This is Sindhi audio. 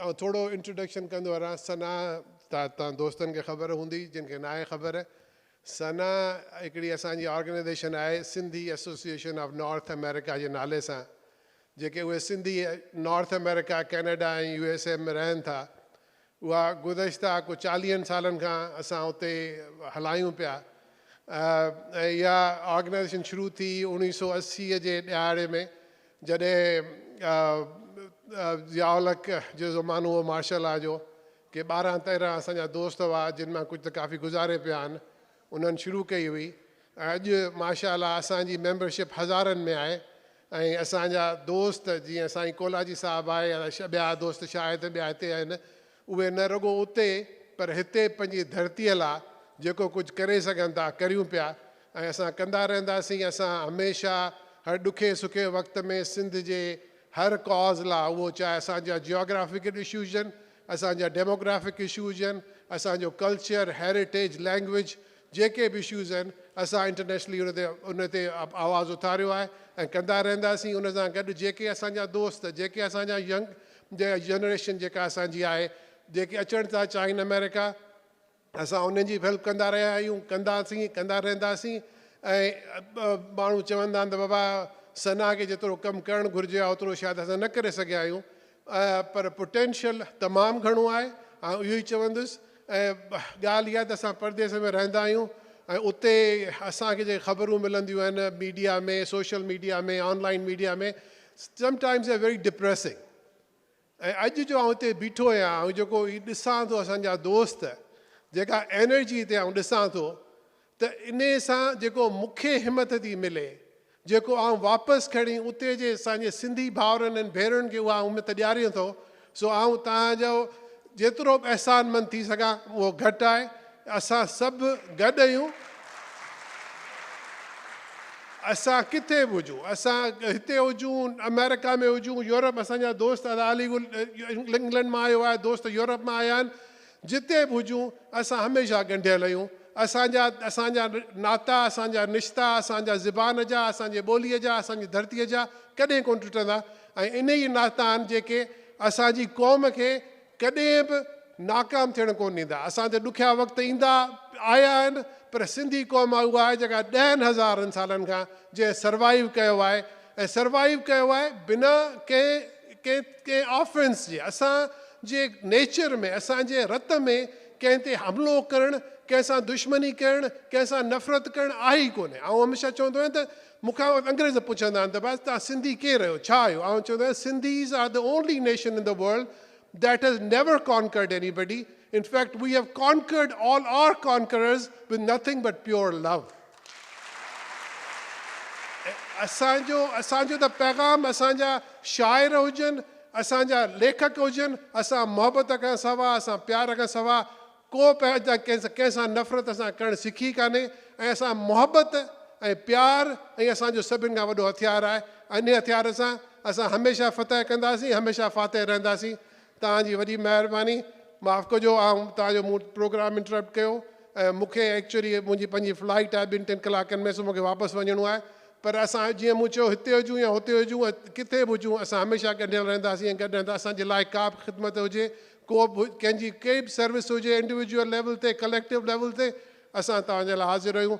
آئون ٿورو انٽروڊڪشن ڪندو هلان ثنا ته توهان دوستن کي خبر هوندي جن کي ناهي خبر ثنا هڪڙي اسان جي آرگنائيزيشن آهي Sindhi association of North America جي نالي سان جيڪي اهي Sindhi North America Canada ۽ U S A ۾ رهن ٿا اها گذشته ڪو چاليهن سالن کان اسان اتي هلايون پيا ۽ اها آرگنائيزيشن شروع ٿي اوڻيهه سؤ اسي جي ڏهاڙي ۾ جڏهن ضياء الحق جو زمانو هو مارشل لا جو، ڪي ٻارهن تيرهن اسان جا دوست هئا، جن مان ڪجهه ته ڪافي گذاري پيا آهن، انهن شروع ڪئي هئي ۽ اڄ ماشاءالله اسان جي ميمبرشپ هزارن ۾ آهي ۽ اسان جا دوست جيئن سائين ڪولاچي صاحب آهي يا ٻيا دوست شايد ٻيا هتي آهن، اهي نه رڳو اتي پر هتي پنهنجي ڌرتيء لا جيڪو ڪجهه ڪري سگهن ٿا ڪريون پيا ۽ اسان ڪندا رهنداسين. اسان هميشه هر ڏکي سکي وقت ۾ سنڌ جي هر ڪاز لا اهو چاهي اسان جا جيوگرافيڪل اشو هجن، اسان جا ڊيموگرافڪ اشو هجن، اسان جو ڪلچر، هيريٽيج، لينگويج جيڪي به اشوز آهن اسان انٽرنيشنلي ان تي ان تي آواز اٿاريو آهي ۽ ڪندا رهنداسين. ان سان گڏ جيڪي اسان جا دوست جيڪي اسان جا ينگ جي جنريشن جيڪا اسان جي آهي جيڪي اچڻ ٿا چاهين آمريڪا اسان انهن جي به هيلپ ڪندا رهيا آهيون ڪنداسين ڪندا رهنداسين ۽ ماڻهو چوندا آهن ته بابا ثنا کي جيترو ڪم ڪرڻ گهرجي ها اوترو شايد اسان نه ڪري سگهيا آهيون پر پوٽينشل تمام گهڻو آهي آئون اهو ئي چوندس ۽ ڳالهه اها ته اسان پرديس ۾ رهندا آهيون ۽ اتي اسان کي جيڪي خبرون ملنديون آهن media ۾ social media ۾ online media ۾ sometimes you are very depressing ۽ اڄ جو آئون هتي بيٺو آهيان آئون جيڪو هي ڏسان ٿو اسان جا دوست جيڪا انرجي هتي آئون ڏسان ٿو ته انهي سان جيڪو مون کي همٿ ٿي ملي جيڪو آئون واپس کڻي اتي جي اسان جي سنڌي ڀائرن ۽ ڀينرن کي اها همٿ ڏياريان ٿو سو آئون توهان جو جيترو به احسان مند ٿي سگهان اهو گهٽ آهي. اسان سڀ گڏ اهيون. اسان ڪٿي به هجون، اسان هتي هجون، آمريڪا ۾ هجون، يورپ اسان جا دوست ادا علي گل انگلنڊ مان آيو آهي، دوست يورپ مان آيا آهن، جتي به هجون اسان هميشه ڳنڍيل اهيون. اسان جا اسان جا ناتا، اسان جا رشتا، اسان جا زبان جا، اسان جي ٻوليء جا، اسان جي ڌرتيء جا ڪڏهن ڪونه ٽٽندا. ۽ اهي ئي ناشتا آهن جيڪي اسان جي قوم کي ڪڏهن به ناڪام ٿيڻ ڪونه ڏيندا. اسان تي ڏکيا وقت ايندا آيا آهن پر سنڌي قوم اها آهي جيڪا ڏهن هزارن سالن کان جنهن سروائيو ڪيو آهي ۽ سروائيو ڪيو آهي بنا ڪنهن ڪنهن ڪنهن آفينس جي اسان جي نيچر ۾ اسان جي رت ۾ ڪنهن تي حملو ڪرڻ ڪنهن سان دشمني ڪرڻ ڪنهن سان نفرت ڪرڻ آهي ئي ڪونه آئون هميشه چوندو آهيان ته مون کان انگريز پڇندا آهن ته بس توهان سنڌي ڪير آهيو، ڇا آهيو؟ آئون چوندو آهيان Sindhis are the only nation in the world that has never conquered anybody in fact we have conquered all are conquerors with nothing but pure love اسان جو اسان جو ته پيغام اسان جا شاعر هجن اسان جا ليکڪ هجن اسان محبت کان سوا اسان پيار کان سوا ڪو به اڄ تائين ڪنهن ڪنهن سان نفرت اسان ڪرڻ سکي ڪانهي ۽ اسان محبت ۽ پيار ۽ اسان جو سڀن کان وڏو هٿيار آهي ۽ انهي هٿيار سان اسان هميشه فتح ڪنداسين هميشه فاتح رهنداسين توهان جي وڏي مهرباني معاف ڪجو آئون توهان جو مون پروگرام انٽرپٽ ڪيو ۽ مون کي ايڪچولي منهنجي پنهنجي فلائيٽ آهي ٻن ٽن ڪلاڪن ۾ سو مون کي واپس وڃڻو آهي پر اسان جيئن مون چيو هتي هجون يا هتي هجون ۽ ڪٿي به هجون اسان هميشه ڳنڍيل رهنداسين ۽ گڏ رهندا اسان جي لاء ڪا به خدمت هجي ڪو به ڪنهن جي ڪي به سروس هجي انڊيويڊيول ليول تي ڪليڪٽو ليول تي اسان توهان جي لاء حاضر آهيون